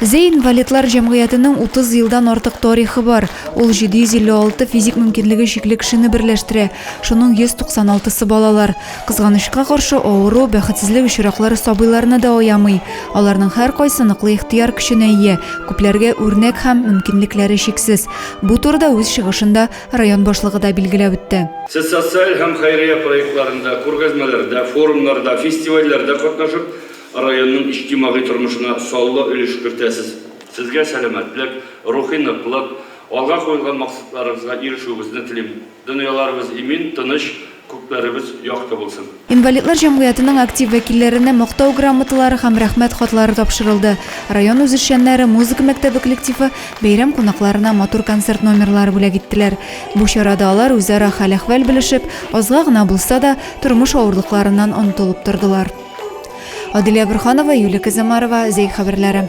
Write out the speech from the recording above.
Зәй инвалидлар җәмгыятенең 30 елдан артык тарихы бар. Ул 756 физик мөмкинлеге чикле кешене берләштерә, шуның 196-сы балалар. Кызганычка каршы, авыру, бәхетсезлек очраклары сабыйларны да аямый. Аларның һәркайсы ныклы ихтыяр көченә ия, күпләргә үрнәк һәм мөмкинлекләре чиксез. Бу турыда үз чыгышында Район башлыгы да билгеләп үтте. Сез социаль һәм хәйрия проектларында, күргәзмәләрдә, форумнарда, фестивальләрдә катнашып, районның иҗтимагый тормышына саллы өлеш кертәсез. Сезгә сәламәтлек, рухи ныклык, алга куелган максатларыгызга ирешүегезне телим. Дөньяларыбыз имин, тыныч, Күкләребез якты булсын! Инвалидлар җәмгыятенең актив вәкилләренә Мактау грамоталары һәм Рәхмәт хатлары тапшырылды. Район үзешчәннәре музыка мәктәбе коллективы бәйрәм кунакларына матур концерт номерлары бүләк иттеләр. Бу чарада алар үзара хәл-әхвәл белешеп, азга гына булса да, тормыш авырлыкларыннан онытылып тордылар. Аделя Борһанова, Юлия Козомарова, Зәй хәбәрләре.